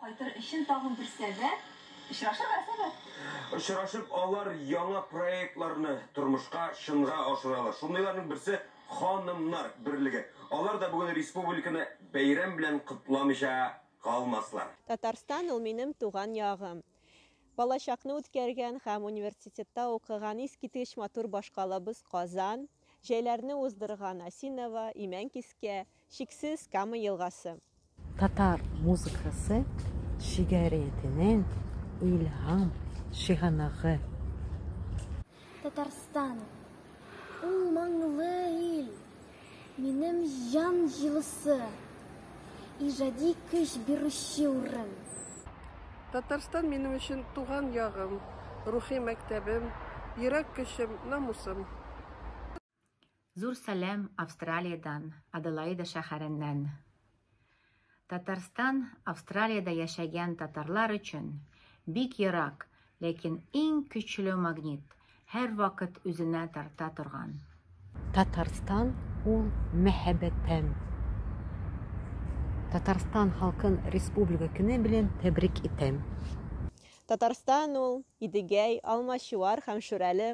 Кайтыр өчен тагын бер сәбәп, очрашырга сәбәп. Очрашып, алар яңа проектларны тормышка, чынга ашыралар. Шундыйларның берсе, Ханымнар берлеге. Алар да бүген республиканы бәйрәм белән котламыйча калмаслар. Татарстан ул минем туган ягым. Балачакны үткәргән һәм университетта укыган искиткеч матур башкалабыз Казан, җәйләрне уздырган Осиново, Имәнкискә, Чиксез Кама елгасы. Татар музыкасы шигариятенең илһам чыганагы. Татарстан, ул моңлы ил, минем җан җылысы, иҗади көч бирүче урын. Татарстан минем өчен туган ягым, рухи мәктәбем, йөрәк көчем, намусым. Зур сәлам Австралиядән, Аделаида шәһәреннән. Татарстан Австралиядә яшәгән татарлар өчен бик ерак, ләкин иң көчле магнит, һәрвакыт үзенә тарта торган. Татарстан ул мәһәбәтем. Татарстан халкын республика көне белән тәбрик итәм. Татарстан ул, Идегәй, Алмачуар һәм Шүрәле.